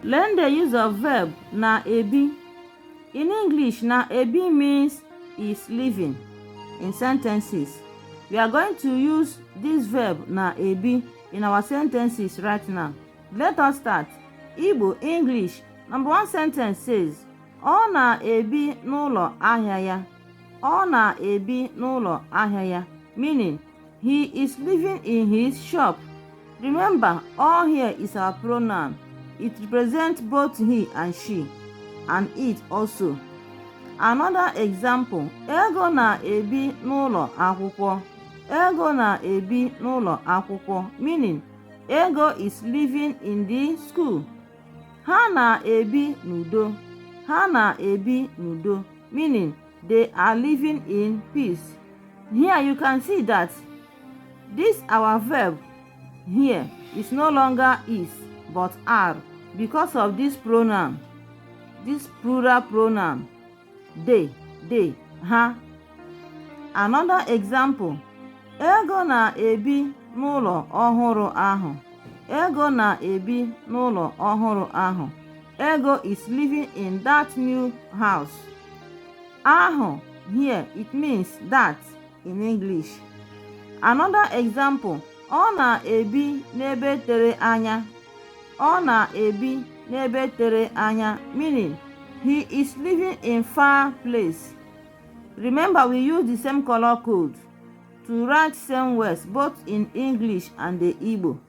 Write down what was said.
Learn the use of verb na-ebi. In English, na-ebi means is living in sentences. We are going to use this verb na-ebi in our sentences right now. Let us start. Igbo, English. Number one sentence says, Ọ na-ebi n'ụlọ ahịa ya. Ọ na-ebi n'ụlọ ahịa ya. Meaning, He is living in his shop. Remember, ọ here is our pronoun. It represents both he and she, and it also. Another example, Ego na-ebi n'ụlọ akwụkwọ. Ego na-ebi n'ụlọ akwụkwọ meaning Ego is living in the school. Ha na-ebi n'udo. Ha na-ebi n'udo meaning they are living in peace here you can see that this our verb here is no longer is but are because of this pronoun this plural pronoun they they ha another example ego na-ebi n'ụlọ ọhụrụ ahụ ego na-ebi n'ụlọ ọhụrụ ahụ Ego is living in that new house. Ahụ here it means that in English. Another example, ọ na-ebi n'ebe tere anya. Ọ na-ebi n'ebe tere anya meaning he is living in far place. Remember we use the same color code to write same words both in English and the Igbo.